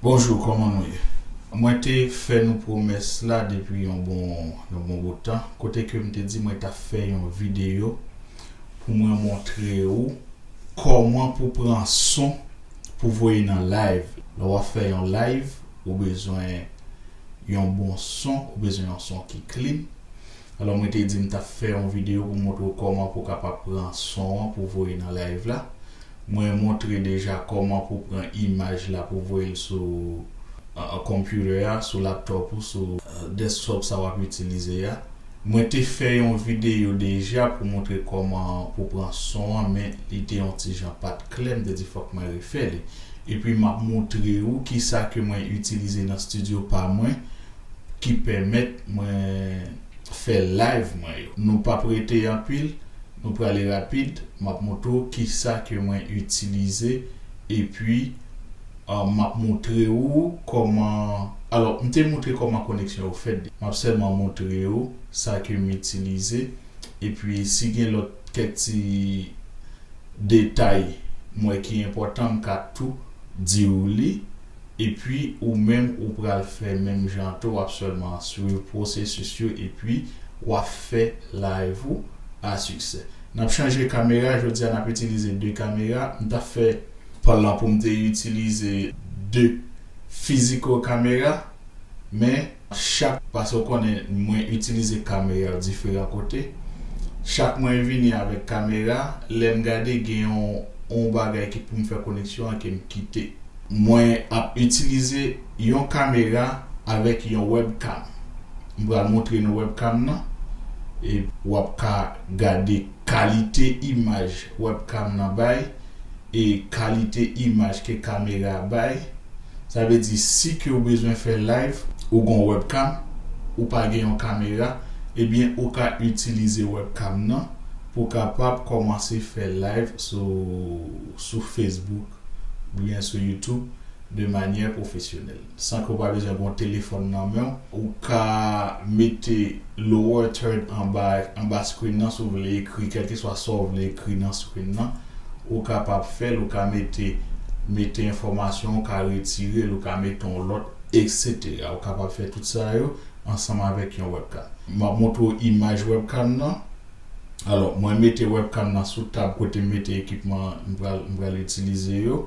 Bonjou kòman nou ye? Mwen te fè nou pwomès la depi yon bon yon bon bout tan kote ke m te di mwen tap fè yon videyo pou mwen montre ou kòman pou pran son pou voye nan live lè wap fè yon live ou bezwen yon bon son ou bezwen yon son ki clean alò mwen te di m tap fè yon videyo pou montre w kòman pou kapab pran son an pou voye nan live la Mwen montre deja kòman pou pran imaj la pou voyel sou computer a sou laptop ou sou desktop sa wap itilize a mwen te fè yon video deja pou montre kòman pou pran son an men li te yon ti jan pat klè m te di fòk mwen refè li epi map moutre ou kisa ke mwen itilize nan studio pa mwen ki pèmèt mwen fè live mwen yo nou pap rete anpil Nou prale rapid map moutre w kisa ke mwen itilize epi map moutre ou kòman alò m te moutre kòman koneksyon yo fèt deja map sèlman moutre ou sa ke m itilize epi si gen lòt kèk ti detay m wè ki enpòtan m ka tou di ou li. Epi ou menm ou pral fè menm jan tou wap sèlman swiv pwosesis yo epi wap fè live ou a siksè. Nap chanje kamera jodia nap itilize 2 kamera m tap fè plan poum te itilize 2 physical kamera men. Chak paske ou konnen mwen itilize kamera diferan kote chak mwen vini avèk kamera lèm gade gen yon yon bagay ki poum fè koneksyon an kem kite. Mwen ap itilize yon kamera avèk yon webcam m pral moutre nou webcam nan e wap ka gade kalite imaj webcam nan bay. e kalite imaj ke kamera a bay, sa vle di si ke ou bezwen fè live, ou gon webcam, ou pa gen yon kamera, ebyen ou ka itilize webcam nan pou kapab kòmanse fè live sou sou Facebook oubyen sou YouTube de manyè pwofesyonèl. San ke w pa bezwen gen yon telefòn nan men w, ou ka mete lower third anba anba screen nan si w vle ekri kèlkeswa sa w vle ekri nan screen nan. Ou kapab fè l, ou ka mete mete enfòmasyon, ou ka retire l, ou ka mete yon lòt, etc. Ou kapab fè tout sa yo ansanm avèk yon webcam. M ap montre w imaj webcam nan. Alò, mwen mete webcam nan sou tab kote m mete ekipman m pral m pral itilize yo.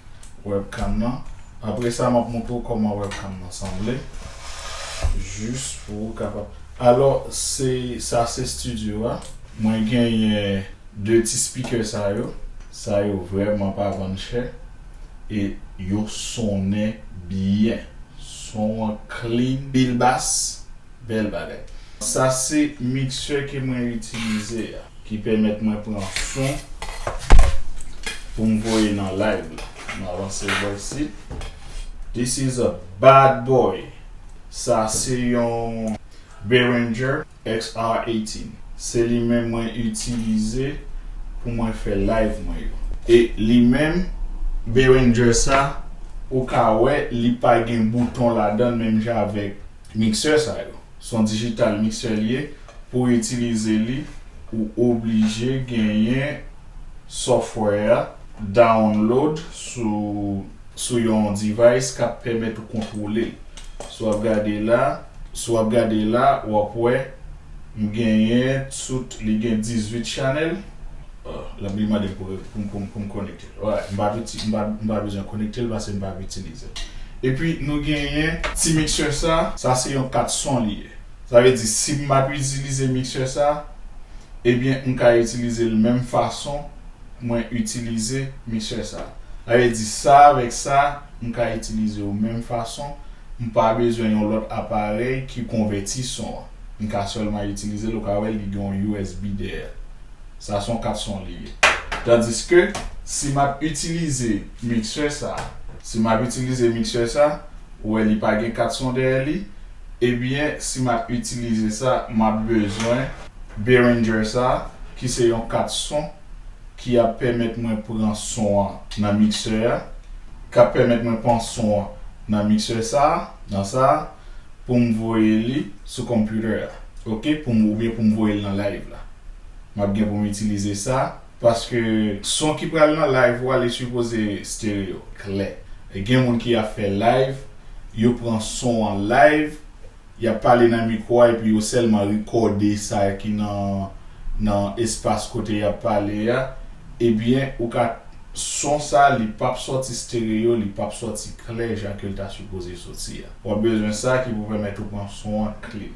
webcam nan apre sa map montre w koman webcam nan sanble jis pou ou kapab alò se sa se studio a. Mwen genyen 2 ti speaker sa yo, sa yo vrèman pa vann chè e yo sonnen byen, son an clean. Pil bass, Bel bagay. Sa se mixeur ke mwen itilize a. Ki pèmèt mwen pran son pou m voye nan live la. M avanse l bò isit. This is a bad boy. Sa se yon Behringer XR 18. Se li menm mwen itilize pou mwen fè live mwen yo. E li menm Behringer sa ou ka wè li pa gen bouton ladan l menm jan avèk Miksè sa yo. Son digital mixer li ye, pouw itilize li ou oblije genyen software a download sou sou yon device kap pèmèt ou kontwole l. Si wap gade la, si wap gade la wap wè m genyen tout li gen 18 channel, lap li mandem pou m pou m pou m connecte. Alright, m pa uti, m pa, m pa bezwen konekte l pase m pa itilize l. Epi nou genyen ti mixer sa. Sa se yon kat son li ye. Sa vle di si m ap itilize mixer sa, ebyen m ka itilize l menm fason mwen itilize mixer sa. Sa vle di sa avèk sa m ka itilize yo menm fason, m pa bezwen yon lòt aparèy ki konvèti son an. M ka sèlman itilize l, ou ka wè li gen yon usb dèyè l. Sa son 4 son li ye. Tandiske, si m ap itilize mixer sa, si m ap itilize mixer sa, ou wè li pa gen 4 son dèyè li, ebyen si m ap itilize sa, m ap bezwen Behringer sa, ki se yon 4 son, ki ap pèmèt mwen pran son an nan mixer a, k ap pèmèt mwen pran son an nan mixer sa, nan sa, pou m voye li sou computer a, ok, pou m, oubyen pou m voye l nan live la. Map gen pou m itilize sa paske son ki pral nan live ou a li sipoze stereo, klè. E gen moun ki ap fè live, yo pran son an live, yap pale nan mikwo a epi yo sèlman rekòde sa ki nan nan espas kote yap pale a, ebyen ou ka son sa li pap sòti stereo, li pap sòti klè jan ke l ta sipoze sòti a. Wap bezwen sa ki pou pèmèt ou pran son an clean.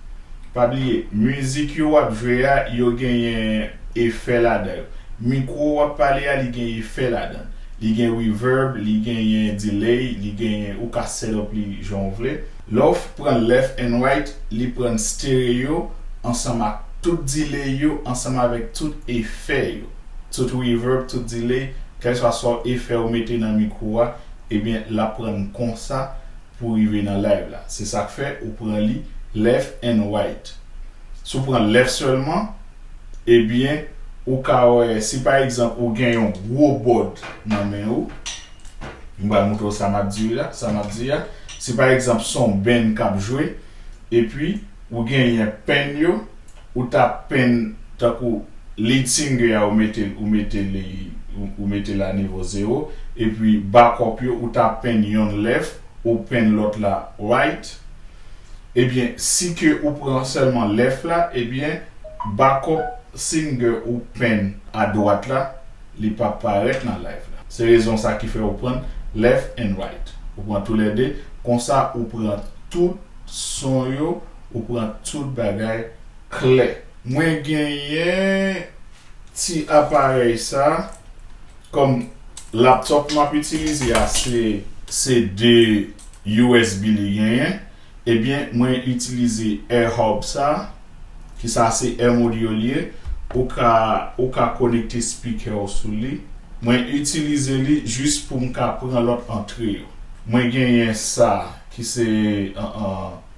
Pa bliye mizik yo wap jwe a yo genyen efè ladanl mikro wap pale a li gen efè ladann li gen reverb li genyen delay li genyen ou ka set up li jan ou vle. Lèw pran left and right li prann stereo ansanm ak tout delay yo ansanm avèk tout efè yo tout reverb tout delay kèlswa sa efè ou mete nan mikro a ebyen lap prann konsa pou rive nan live la se sak fè ou pran li left and right si w pran left sèlman ebyen ou ka wè si pa egzanp ou gen yon gwo bòd nan men ou m pral montre w sa map di la sa map di a si pa egzanp son band kap jwe epi ou genyen pen yo Ou ta pen tankou lead singer a ou metel ou mete li ou metel a nivo zero epi backup yo ou ta pen yonn left ou pen lòt la right ebyen si ke ou pran sèlman left la ebyen backup singer ou pen a dwat la li pap parèt nan live la se rezon sa ki fè ou pran left and right ou pran tou lè 2 konsa ou pran tout son yo Ou pran tout bagay klè. Mwen genyen ti aparèy sa kòm laptop map itilize a se se 2 usb li genyen ebyen mwen itilize air hub sa ki sa se air module li ye ou ka ou ka konekte speaker ou sou li mwen itilize li jis poum ka pran lòt antre yo mwen genyen sa ki se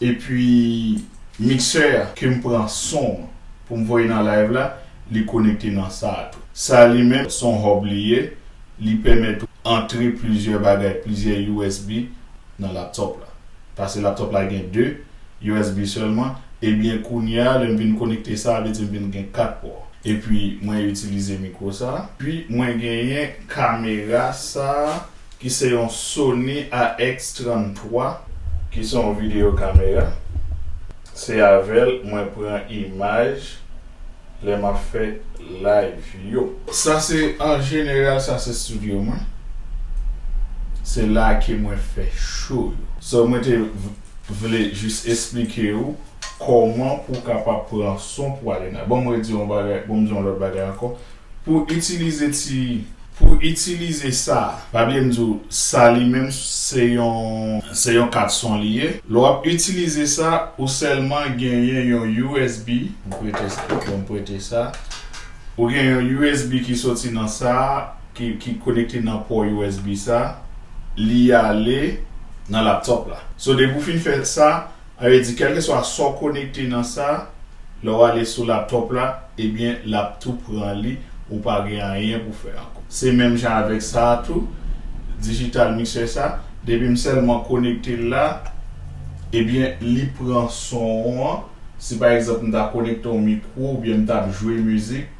epi mixer a kem pran son an poum voye nan live la li konekte nan sa a tou. Sa a li menm son hub li ye, li pèmèt ou antre plizyè bagay, plizyè usb nan laptop la. Pase laptop la gen 2 usb sèlman, ebyen kounye a lèm vin konekte sa a vle di m vin gen 4 pò. Epi mwen itilize mikwo sa a. Epi mwen genyen kamera sa a. ki se yon Sony AX33 ki se yon video camera se avèl mwen pran imaj lè map fè live yo. Sa se an jeneral sa se studio mwen se la ke mwen fè show yo. So mwen te vle jis esplike ou kòman pou w kapab pran son pou ale nan. Bon mwen di yon bagay, bon mwen di yon lòt bagay ankò pou itilize ti. Pou itilize sa, pa bliye m di w sa li menm se yon se yon kat son li ye. Lè w ap itilize sa, ou sèlman genyen yon usb, m prete sa pou yo m prete sa, ou gen yon usb ki soti nan sa ki ki konekte nan pò usb sa, li ale nan laptop la. So depi w fin fè sa, A yo di kèlkeswa sa w konekte nan sa, lè w ale sou laptop la, ebyen l ap tou pran li, ou pa gen anyen pou fè ankò. Se menm jan avèk sa a tou, digital mixer sa, depi m sèlman konekte l la, ebyen li pran son an, si pa egzanp m ta konekte yon mikwo oubyen m t ap jwe mizik,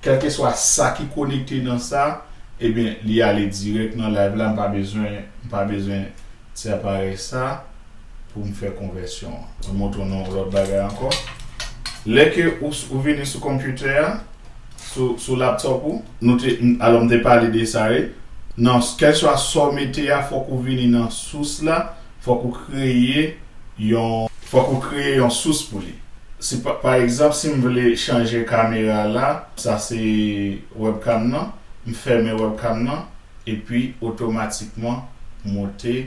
kèlkeswa sa ki konekte nan sa, ebyen li ale dirèk nan live la, m pa bezwen, m pa bezwen ti aparèy sa. pou m fè konvèsyon an. Mwen montre w yon lòt bagay ankò. Lè ke ou vini sou konpyoutè a, sou laptop ou. Nou te, alò m te pale de sa wi. Nan kèlswa sa w mete a, fòk ou vini nan sous la, fòk ou kreye yon. Fòk ou kreye yon sous pou li. Si pa egzanp, si m vle chanje kamera la, sa se webcam nan, m fèmen webcam nan, epi otomatikman monte.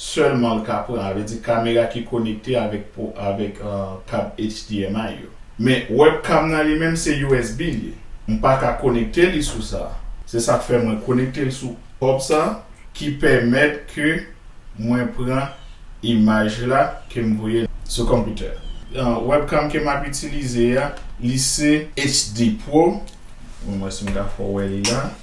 Sèlman l ka pran, vle di kamera ki konekte avèk avèk kab HDMI yo. Men webcam nan li menm se usb l ye. M pa ka konekte li sou sa. Se sak fè mwen konekte l sou hub sa ki pèmèt ke mwen pran imaj la ke m voye sou computer. Webcam ke map itilize a li se HD pro. Mwen wè si m ka fè w wè li la.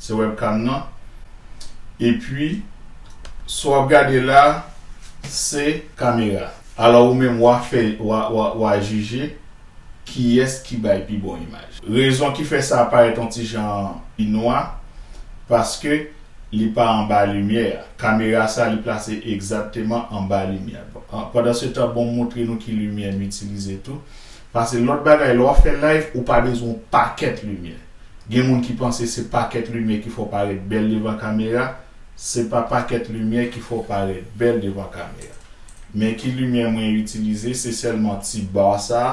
Se webcam nan. Epi sa wap gade la se kamera. Alò ou menm wa fè wa jije kiyès ki bay pi bon imaj. Rezon ki fè sa parèt on ti jan pi nwa paske li pa anba limyè a. Kamera sa li plase egzatteman anba limyè. Pandan se tan bon m moutre nou ki limyè m itilize tou. Pase lòt bagay lè wap fè live ou pa bezwen yon pakèt limyè gen moun ki panse se pakèt limyè ki fè w parèt bèl devan kamera se pa pakèt limyè ki fè w parèt bèl devan kamera men ki limyè mwen itilize se sèlman ti bar sa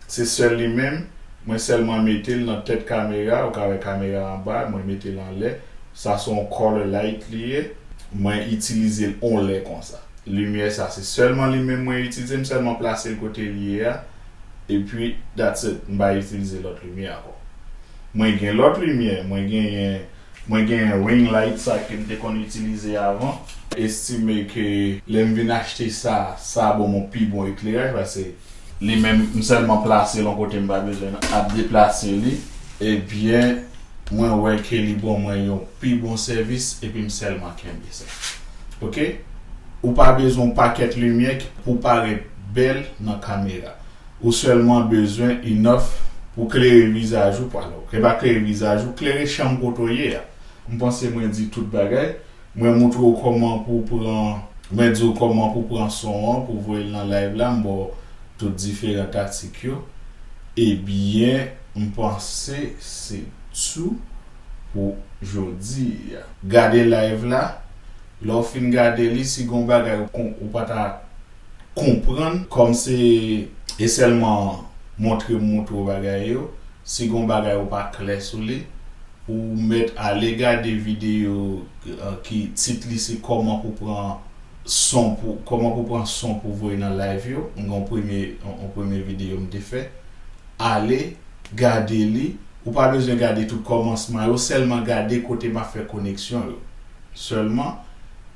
se sèl li menm mwen sèlman mete l nan tèt kamera ou ka wè kamera anba mwen mete l anlè sa se yon color light li ye. Mwen itilizel on lè konsa. Limyè sa se sèlman li menm mwen itilize m sèlman plasel kotel ye a epi that's it m pa itilize lòt limyè ankò mwen gen lòt limyè mwen genyen mwen genyen ring light sa kem te konn itilize avan. Estime ke lèm vin achte sa sa a bonm on pi bon ekleraj pase. li menm m sèlman plase l yon kote m pa bezwen ap deplase li ebyen mwen wè ke li bon mwen yon pi bon sèvis epi m sèlman kenbe sa ok ou pa bezwen yon pakèt limyè pou w parèt bèl nan kamera ou sèlman bezwen enough pou klere vizaj ou pa klere vizaj ou klere chanm kote w ye a m panse mwen di tout bagay. Mwen moutre w koman pou w pran Mwen di w koman pou w pran son an pou w voye l nan live la m ba w tout diferan taktik yo ebyen m panse se tou pou jodi. Gade live la, lè w fin gade li si gon bagay ou pa ta. konprann. Kòm se e sèlman montre m montre w bagay yo, si gon bagay ou pa klè sou li, ou mèt ale gade videyo ki tit li se kòman pou pran son pou kòman pou pran son pou voye nan live yo, m gen yon premye yon premye videyo m te fè, ale gade li, ou pa bezwen gade tout kòmansman yo, sèlman gade kote m ap fè koneksyon yo sèlman.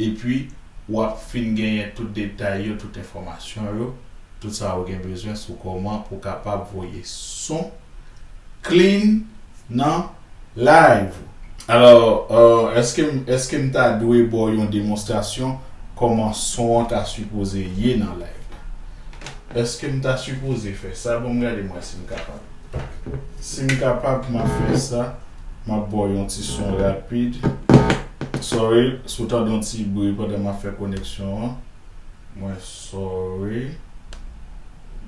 Epi, ou ap fin genyen tout detay yo, tout enfòmasyon yo, tout sa ou gen bezwen sou kòman pou kapab voye son clean nan live ou. Alò, èske m èske m ta dwe ba w yon demonstrasyon kòman son an ta sipoze ye nan live la? Èske m ta sipoze fè sa? Bon m gade m wè si m kapab. Sim kapab map fè sa map baw yon ti son rapid sorry si ou tande yon ti bri pandan map fè koneksyon an mwen sorry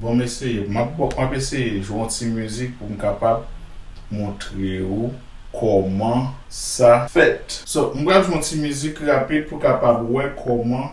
bon m eseye map baw map eseye jwe yon ti mizik poum kapab montre ou kòman sa fèt so m pral jwe yon ti mizik rapid pou kapab wè kòman.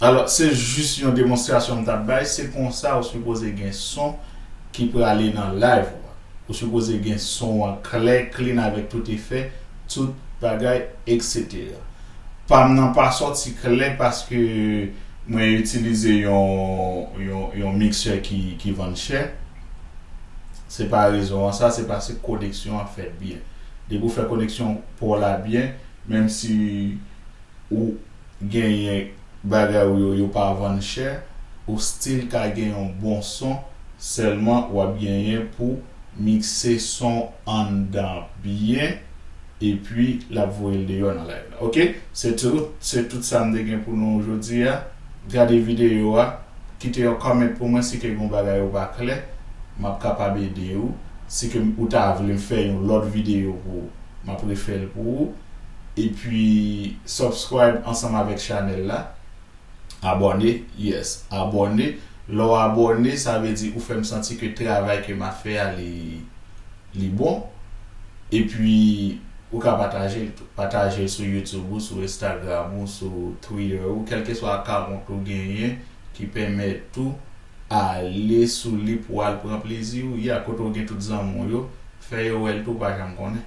Alò, se jis yon demonstrasyon m t ap bay, se konsa ou sipoze gen son ki prale nan live ou a. Ou sipoze gen son an klè, clean avèk tout efè, tout bagay etc. Pam nan pa sòti klè paske mwen itilize yon yon yon mixer ki vann chè. Se pa rezon an sa se pase koneksyon an fèt byen. Depi ou fè koneksyon paw la byen menm si ou genyen bagay ou yo yo pa vann chè ou still ka gen yon bon son sèlman wap genyen pou mikse son anndan byen Epi lap voyel deyò nan live la ok. Se tout se tout sam te gen pou nou jodi a gade video a kite yon comment pou mwen si ke gon bagay ou pa klè map kapab ede ou si ke ou ta vlem fè yon lòt video pou ou map refèl pou ou epi subscribe ansanm avèk chanèl la abòne yes abòne lèw abòne sa vle di ou fèm santi ke travay ke ma fè a li. Li bon, epi ou ka pataje l tou. Pataje l sou YouTube ou, sou Instagram ou, sou Twitter ou, kèlkeswa akawont ou genyen ki pèmèt tou ale sou li pou al pran plezi ou. Ya kote ou gen tout zanmi w yo, fè yo wè l tou, ou pa janm konnen.